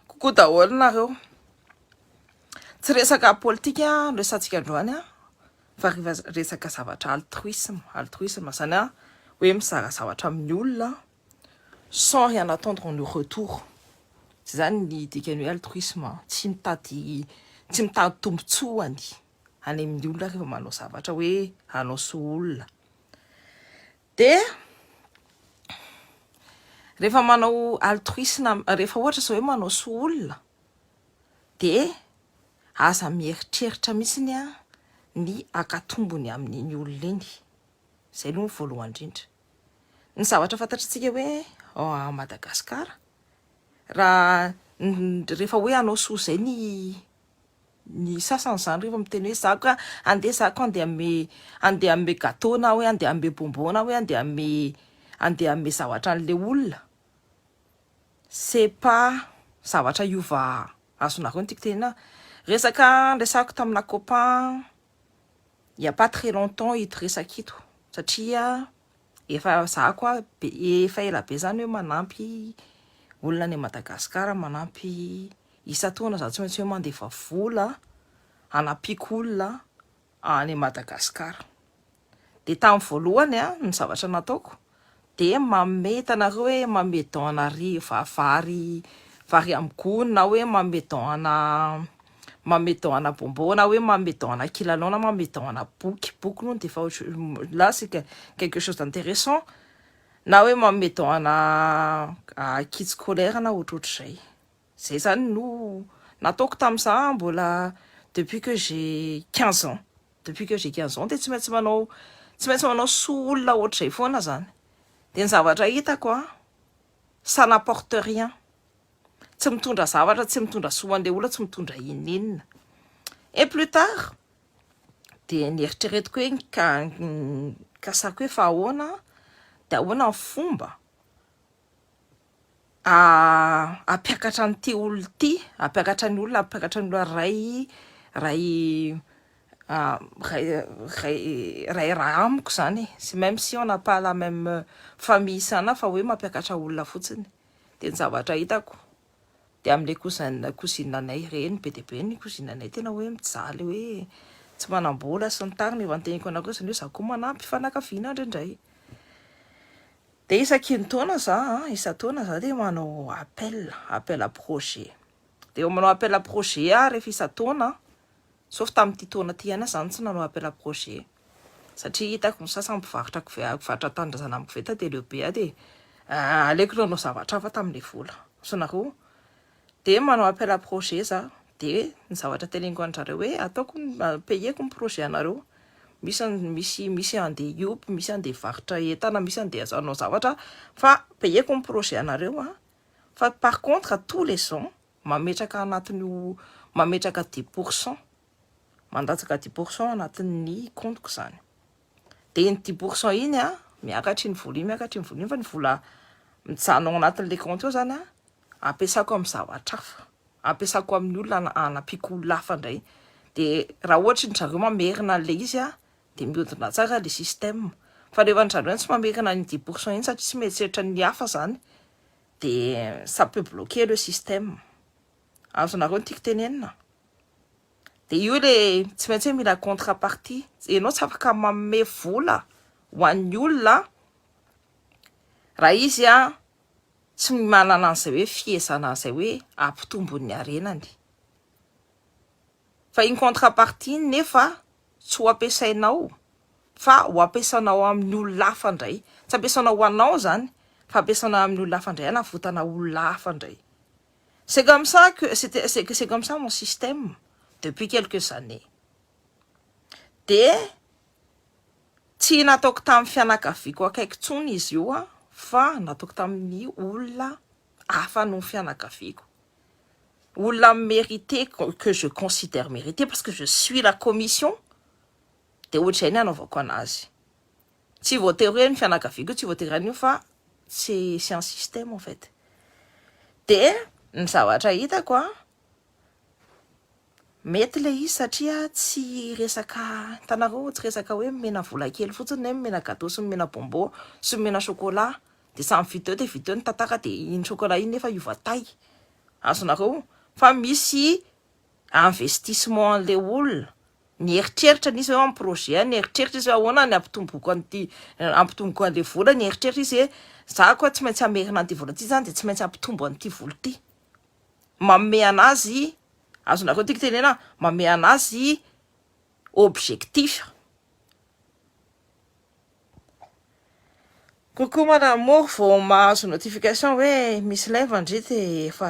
Kokoa daholo nareo. Tsy resaka politika no resatsika androany fa resaka zavatra altruisme, altruisme zany a hoe mizara zavatra amin'ny olona sans rien attendre en retour, zay zany ny dikany hoe altruisme, tsy mitady tsy mitady tombotsoany any amin'ny olona rehefa manao zavatra hoe hanao soa olona. Dia rehefa manao altruisme, rehefa ohatra izao hoe manao soa olona, dia aza mieritreritra mihitsy ny ny akatombony amin'iny olona iny. Izay aloha ny voalohany indrindra. Ny zavatra fantatr'antsika hoe ao Madagasikara, raha rehefa hoe hanao soa izay ny. Ny sasany izany rehefa miteny hoe za ka andeha za ka andeha hanome andeha hanome gateau na hoe andeha hanome bonbon na hoe andeha hanome andeha hanome zavatra an'ilay olona, c'est pas zavatra hiova azonareo no tiako tenenana. Resaka niresahako tamina copain il y a pas très longtemps ito resaka ito satria efa za koa efa ela be zany hoe manampy olona any Madagascar manampy isan-taona za tsy maintsy hoe mandefa vola hanampiako olona any Madagascar dia tamin'ny voalohany a, ny zavatra nataoko dia manome hitanareo hoe manome don ana ri va vary vary amin'ny gony na hoe manome don ana manome don ana bonbon na hoe manome don ana kilalao na manome don ana boky boky moa no dia efa ohatr- là c'est que- quelque chose d'intéressant na hoe manome don ana kit scolaire na ohatrohatr'izay Zay zany no nataoko tam za mbola depuis que j'ai quinze ans depuis que j'ai quinze ans de tsy maintsy manao tsy maintsy manao soa olona ohatr'izay foana zany de ny zavatra hitako an ça n'apporte rien tsy mitondra zavatra tsy mitondra soa hoan'le olona tsy mitondra inon'inona et plus tard de nieritreretiko hoe ka nikasako hoe fa ahoana de ahoana ny fomba hampiakatra an'ity olona ity, hampiakatra ny olona, hampiakatra ny olona ray ray ray ray ray raha amiko izany e, c'est même si on n'a pas la même famille sana fa hoe mampiakatra olona fotsiny dia ny zavatra hitako dia amin'ilay cousin cousine anay ireny be dia be ny cousine anay tena hoe mijaly hoe tsy manam-bola sy ny tariny, efa noteneniko anareo izany hoe za koa manampy fanakaviana indraindray. Dia isakintaona za a, isan-taona za dia manao appel, appel à projet. Dia manao appel à projet aho rehefa isan-taona, sauf tamin'ity taona ity ihany aho zany tsy nanao appel à projet, satria hitako ny sasany mpivarotra koveta, mpivarotra tanindrazana amin'ny koveta dia leo be aho dia aleoko nanao zavatra hafa tamin'ilay vola, sao nareo Dia manao appel à projet za, dia ny zavatra teneniko an'zareo hoe ataoko payeko ny projet anareo, misy misy misy andeha hiompy, misy andeha hivarotra entana, misy andeha hanao zavatra fa payeko ny projet anareo an, fa par contre tous les ans mametraka anatin'io mametraka dix pour cent, mandatsaka dix pour cent anatin'ny compte-ko zany, dia iny dix pour cent iny an miakatry ny vola iny miakatry ny vola iny fa ny vola mijanona ao anatin'ilay compte ao zany an, ampiasako amin'ny zavatra hafa, ampiasako amin'ny olona hanampiako olona hafa indray, dia raha ohatra ny zareo mamerina an'ilay izy aho dia mihodina tsara ilay système, fa rehefa ny zareo ihany tsy mamerina an'iny dix pour cent iny satria tsy mieritreritra ny hafa izany dia ça peut bloquer le système, azonareo ny tiako tenenina? dia io ilay tsy maintsy hoe mila contre partie, ianao tsy afaka manome vola ho an'ny olona raha izy an, tsy manana an'izay hoe fihezana an'izay hoe hampitombo ny harenany. Fa iny contrepartie iny nefa tsy ho ampiasainao fa ho ampiasanao amin'ny olona hafa indray. Tsy ampiasanao ho anao izany fa ampiasanao amin'ny olona hafa indray, hanavotana olona hafa indray. C'est comme ça que c'est comme ça mon système depuis quelques années. Dia Tsy nataoko tamin'ny fianakaviako akaiky intsony izy io fa nataoko tamin'ny olona hafa noho ny fianakaviako. Olona mi-mérité, que je considère mérité parce que je suis la commission dia ohatr'izay ny anaovako an'azy. Tsy voatery hoe ny fianakaviako io, tsy voatery an'io fa c'est c'est un système en fait. Dia ny zavatra hitako an! Mety le izy satria tsy resaka hitanareo tsy resaka hoe omena vola kely fotsiny na hoe omena gateau sy omena bonbon sy omena chocolat de samy video dia video ny tantara de iny chocolat iny nefa hiova taille azonareo fa misy investissement anle olona nieritreritra le izy hoe mi-projet nieritreritra izy hoe ahoana ny hampitomboiko an'ity hampitomboiko anle vola nieritreritra izy hoe za koa tsy maintsy hamerina an'ity vola ity zany de tsy maintsy hampitombo an'ity vola ity manome an'azy, azonareo tiako tenena, manome an'azy objectif. Coucou mon amour, vao mahazo notification hoe misy live ndry dia efa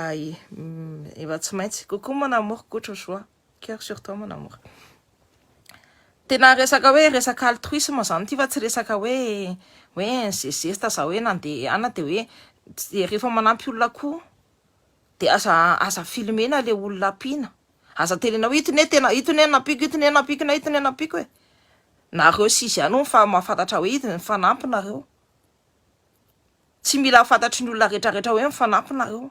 efa tsy maintsy. Coucou mon amour, Koto Joa. Coeur sur toi mon amour. Tena resaka hoe resaka altruisme zany ity fa tsy resaka hoe hoe ze zesta za hoe nandehana de hoe de rehefa manampy olona koa de aza aza filmena le olona ampiana aza tenena hoe itony hoe tena itony hoe nampiako itony hoe nampiako na itony hoe nampiako e nareo sy izy ihany hono fa mahafantatra hoe izy ny fanampy nareo tsy mila fantatry ny olona rehetra rehetra hoe mifanampy nareo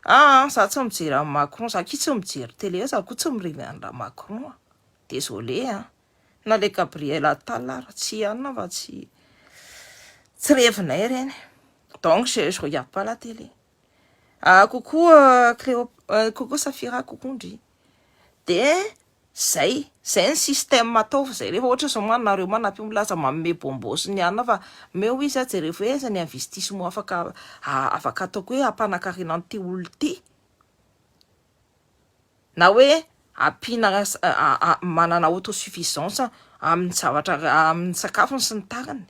Aa za tsy mijery an'i Macron, za akia tsy mijery télé, za koa tsy mirevy an'i Ra-Macron a, désolé an, na le Gabriel Attal ary, tsy ihanona fa tsy revinay ireny, donc je regarde pas la télé. Ah coucou euh, Cléo, euh, coucou Safira, coucou ndry. Dia zay, zay ny système ataovy zay. Rehefa ohatra zao ma nareo ma napio milaza manome bonbon sy ny anona fa meo izy a jereo hoe aiza ny investissement afaka afaka ataoko hoe hampanakarena an'ity olona ity. Na hoe ampiana manana autosuffisance amin'ny zavatra amin'ny sakafony sy ny tariny.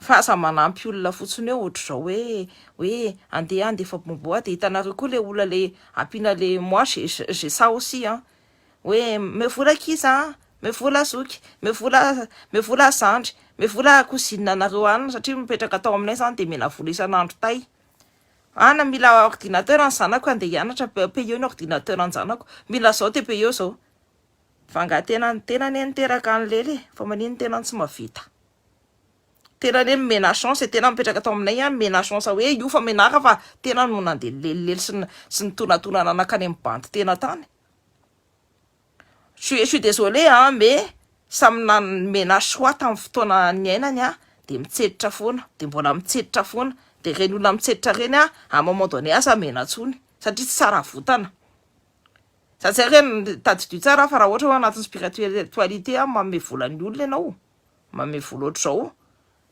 Fa aza manampy olona fotsiny eo ohatr'izao hoe hoe andeha handefa bonbon aho dia hitanareo koa ilay olona ilay ampiana ilay moi j'ai j'ai ça aussi an hoe me vola kiza an me vola zoky me vola me vola zandry me vola cousine anareo any satria mipetraka tao aminay izany dia mena vola isan'andro tay ana mila ordinateur ny zanako andeha hianatra payeo ny ordinateur ny zanako mila izao dia payeo izao Vangan-tena ny tena anie niteraka an'i Lely e, fa maninona ny tenany tsy mavita? Tena anie nomena chance e, tena mipetraka tao aminay ihany nomena chance hoe io fa menaka fa tena no nandeha nilelilely sy sy nitonatonana nankany amin'ny bandy tena tany. Je suis désolée an, mais samy nomena choix tamin'ny fotoana niainany an, dia mitsetra foana, dia mbola mitsetra foana, dia ireny olona mitsetra ireny an, à un moment donné aza mena intsony satria tsy tsara votana. Za tsy haiko hoe tadidio tsara aho fa raha ohatra hoe ao anatin'ny spiritualité aho manome vola ny olona ianao, manome vola ohatr'izao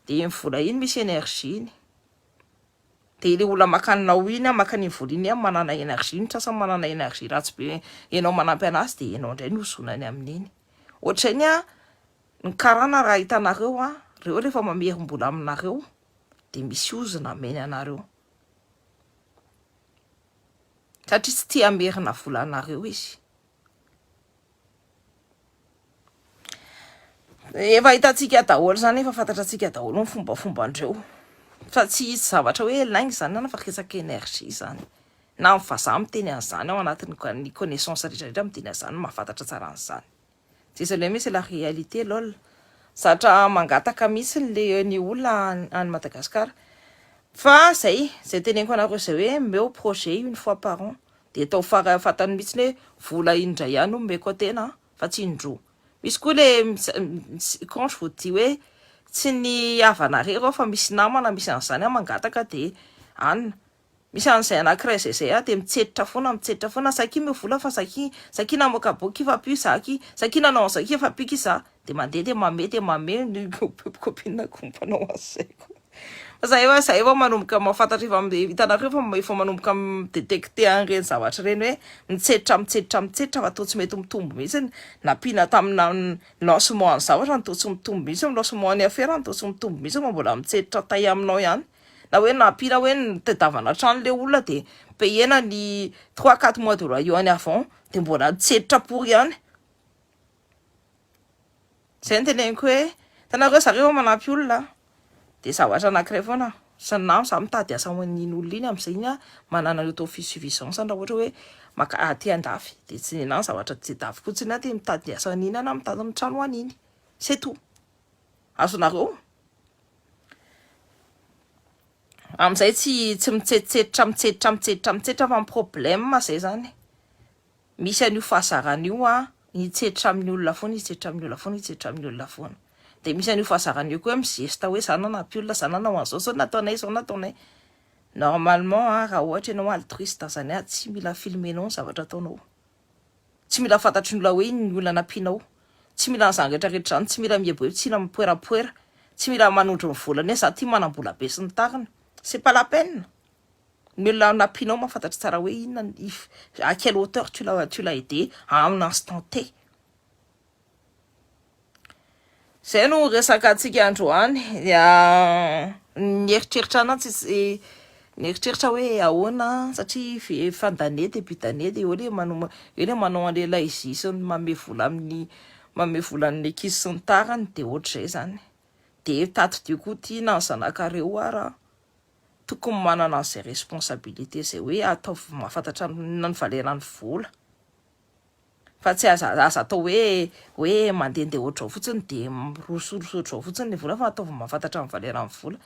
dia iny vola iny misy énergie-ny. Dia ilay olona maka anao iny, maka an'iny vola iny ihany manana énergie, ny sasany manana énergie ratsy be, ianao manampy an'azy dia ianao indray no hozonany amin'iny. Ohatr'izay ny ahy, ny karana raha hitanareo aho, ireo rehefa mamerim-bola aminareo dia misy ozona hameny anareo. satria tsy tia hamerina volanareo izy. Efa hitantsika daholo izany, efa fantatratsika daholo ny fombafomban-dreo fa tsy hisy zavatra hoe lainga izany any fa resaka energie izany na ny vazaha miteny an'izany ao anatin'ny connaissance rehetra rehetra miteny an'izany mahafantatra tsara an'izany. Désolé mais c'est la réalité lol zatra mangataka mihitsy le ny olona any Madagascar fa zay zay teneniko anareo zay hoe meo projet une fois par an de atao fara fatany mihitsy hoe vola indray ihany omeko tena fa tsy indroa misy koa le contre vous dit hoe tsy ny havanareo fa misy namana misy an'izany mangataka de anona Misy an'izay anankiray izay zay ah dia mitsetra foana mitsetra foana sakia meo vola fa sakia sakia namoaka boky fa mpio za ki sakia nanao an'izao ki fa mpio ki za dia mandeha dia mame dia mame ny copine ko mpanao an'izay ko fa za efa za efa manomboka mahafantatra efa hitanareo fa efa manomboka mi-detecter an'ireny zavatra ireny hoe mitsetra mitsetra mitsetra fa toa tsy mety mitombo mihitsy ny nampiana tamina lancement ny zavatra no toa tsy mitombo mihitsy ny lancement ny afera no toa tsy mitombo mihitsy fa mbola mitsetra tay aminao ihany na hoe nampiana hoe ny tedavana trano le olona de payena ny trois quatre mois de loyer any avant de mbola nitsenitra pour ihany zay ny teneniko hoe hitanareo zareo vao manampy olona de zavatra anakiray foana sa na za mitady asa ho an'iny olona iny amizay iny ah manana ny auto suffisance raha ohatra hoe maka aty andafy de tsy nenah ny zavatra tedaviko tsy na de mitady asa an'iny ah na mitady ny trano ho an'iny c'est tout Azonareo? Amin'izay tsy tsy mitsetsetsitra mitsetsitra mitsetsitra mitsetsitra fa ny problème izay zany misy an'io fahazarana io a hitsetra amin'ny olona foana hitsetra amin'ny olona foana hitsetra amin'ny olona foana dia misy an'io fahazarana io koa mizesta hoe za nanampy olona za nanao an'izao zao nataonay izao nataonay normalement a raha ohatra ianao altruiste zany a tsy mila filmenao ny zavatra ataonao Tsy mila fantatry ny olona hoe inona ny olana ampianao. Tsy mila an'izany retraretra izany, tsy mila mieboebo, tsy mila mipoerapoera, tsy mila manondro ny volany hoe za ty manambola be sy ny tariny. C'est pas la peine. Ny olona nampianao mahafantatra tsara hoe inona ny à quelle hauteur tu l'as tu l'as aidé à un instant T. Izay no resakantsika androany. Nieritreritra ahy tsy nieritreritra hoe ahoana satria fan d'année début d'année dia eo ilay manao eo ilay manao an'ilay laizy sy ny manome vola amin'ny manome vola an'ny ankizy sy ny tariny dia ohatr'izay izany. Dia tadidio koa ity na ny zanakareo ary an! Tokony manana an'izay responsabilité izay hoe ataovy mahafantatra ny valeur an'ny vola. fa tsy aza aza atao hoe hoe mandehandeha ohatr'izao fotsiny dia mirosoros ohatr'izao fotsiny ny vola fa ataovy mahafantatra ny valeur ny vola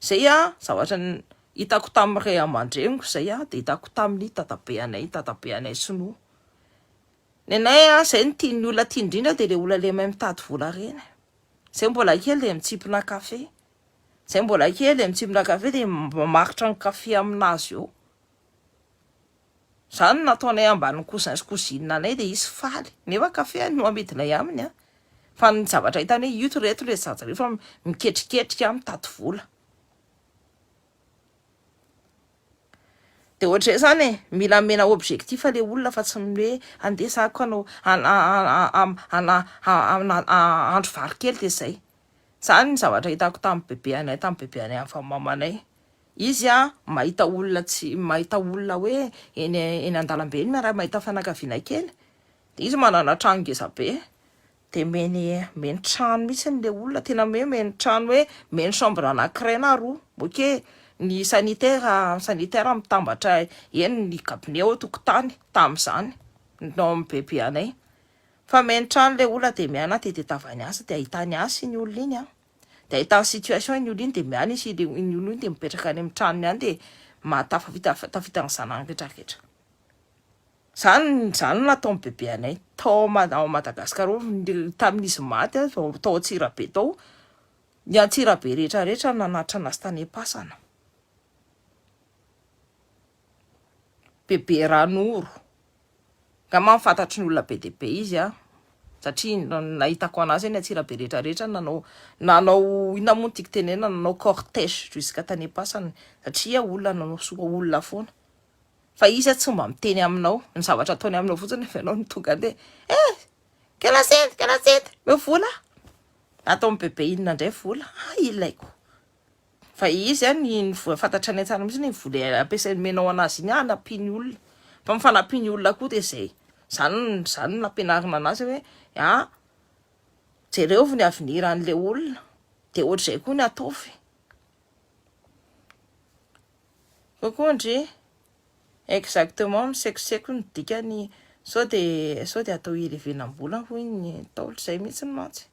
izay a zavatra ny hitako tamin'ny ray aman-dreniko izay a dia hitako tamin'ny dadabe anay dadabe anay sinoa ny anay a izay no tian'ny olona tiany indrindra dia ilay olona ilay mahay mitady vola ireny izay mbola kely dia mitsimpona kafe izay mbola kely dia mitsimpona kafe dia mamaritra ny kafe amin'azy eo Zany nataonay ambanin'ny cousin sy cousine anay dia izy faly nefa café no amidinay aminy an! Fa ny zavatra hitany hoe ito reto le zaza reo fa miketriketrika mitady vola. Dia ohatr'izay zany e! Mila amena objectif le olona fa tsy ny hoe andeha za ko hanao hahandro vary kely dia zay. Zany ny zavatra hitako tamin'ny bebeanay, tamin'ny bebeanay avy amin'ny mamanay. Izy a, mahita olona tsy, mahita olona hoe eny eny an-dalambe eny miara mahita fianakaviana kely, dia izy manana trano ngeza be, dia meny meny trano mihitsy ilay olona, tena hoe meny trano hoe meny chambre anankiray na roa, ok ny sanitaire sanitaire mitambatra eny ny gabone ao an-tokotany tamin'izany tao amin'ny bebe anay, fa meny trano ilay olona dia miaina tety an-tavany asa dia ahitany asa iny olona iny an. dia ahitany situation iny olo iny dia miala izy dia iny olo iny dia mipetraka any amin'ny tranony any dia mahatafavita tafita ny zanany rehetra rehetra zany zany no nataon'ny bebe anay tao ao Madagascar ao tamin'izy maty aho vao tao Antsirabe tao ny Antsirabe rehetra rehetra no nanatitra anazy tany am-pasana bebe ranoro Angamba fantatry ny olona be dia be izy an! satria ny nahitako an'azy eny Antsirabe rehetra rehetra nanao nanao inona moa ny tiako tenenina nanao cortège jusqu'à tany am-pasany satria olona nanao soa olona foana fa izy tsy mba miteny aminao ny zavatra ataony aminao fotsiny rehefa ianao no tonga dia eh kela sent kela sent meo vola ato amin'ny bebe inona indray vola ah ilaiko Fa izy an ny fantatra ny antsana mihintsy ny vola ampiasainy menao anazy iny hanampiany olona fa ny fanampiany olona koa dia zay zany zany no ampianarina anazy hoe a jereo ny avenir an'ilay olona dia ohatr'izay koa ny ataovy kokoa ndry exactement misekoseko ny dikany sao dia sao dia atao hirevenam-bola hoy ny ntaolo zay mihintsy mantsy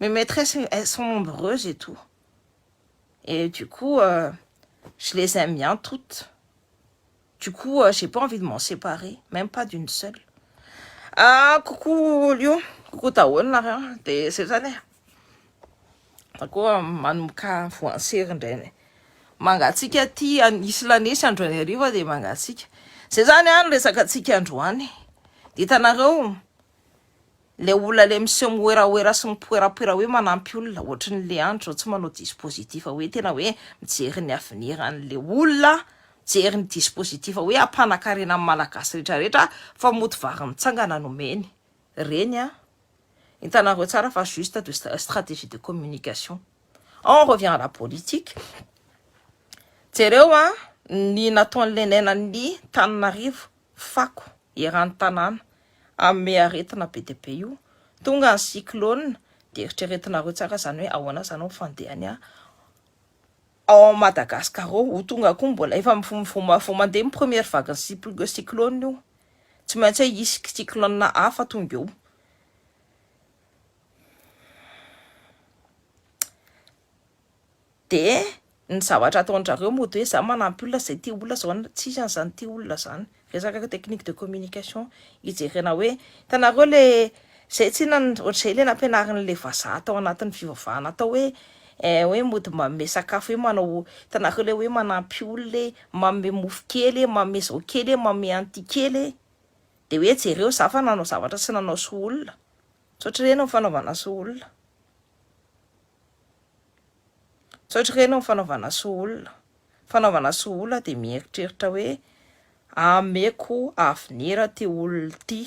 Mes maîtresses elles sont nombreuses et tout et du coup je les aime bien toutes du coup j'ai pas envie de m'en séparer même pas d'une seule ah coucou Lyon coucou daholo nareo de zay zany e za koa manomboka voansery indraina mangatsika aty anisy lanesy androany hariva de mangatsika zay zany any resaka atsika androany de hitanareo Ilay olona ilay miseho mihoerahoera sy mipoerapoera hoe manampy olona, ohatry ny Leandro izao tsy manao dispositif hoe tena hoe mijery ny avenir an'ilay olona aho, mijery ny dispositif hoe hampanakarena ny Malagasy rehetra rehetra fa mody vary mitsangana no omeny. Ireny an! Hitanareo tsara fa juste de stratégie de communication. On revient à la politique, jereo an ny nataon'ilay nenan'ny tanin'arivo, fako eran'ny tanàna amin'me aretina be dia be io, tonga ny cyclone dia eritreretinareo tsara izany hoe ahoana izany ny fandehany ao amin'i Madagascar ao, ho tonga koa mbola efa vao mandeha ny première vague ny cyclone io, tsy maintsy hisy cyclone hafa tonga eo. Dia ny zavatra ataondrareo mody hoe za manampy olona zay tia olona zao na tsisy an'zany tia olona zany. Resaka technique de communication ijerena hoe hitanareo le zay tsy inona ohatr'izay le nampianarin'le vazaha tao anatin'ny fivavahana tao hoe eh hoe mody manome sakafo hoe manao hitanareo le hoe manampy olona e manome mofo kely e manome zao kely e manome an'ity kely e de hoe jereo za fa nanao zavatra sy nanao soa olona tsy ohatr'ireny ny fanaovana soa olona. Tsy ohatr'ireny amin'ny fanaovana soa olona. Fanaovana soa olona dia mieritreritra hoe ameko avenir ity olona ity,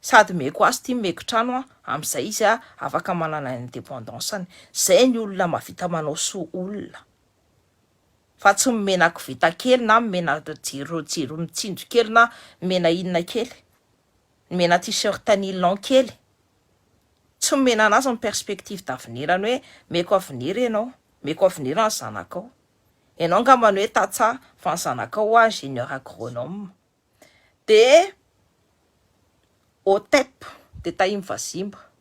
sady meko azy ity, meko trano aho, amin'izay izy afaka manana indépendance-ny. Izay ny olona mahavita manao soa olona, fa tsy nomena koveta kely na nomena jiro mitsinjo kely na nomena inona kely. Nomena t-shirt nylon kely. Tsy nomena anazy ny perspective d'avenir-ny hoe meko avenir ianao, meko avenir ny zanakao. Ianao angamba ny hoe tantsaha fa ny zanakao hoa ingénieur agronome. Dia otep, dia tahim-vazimba.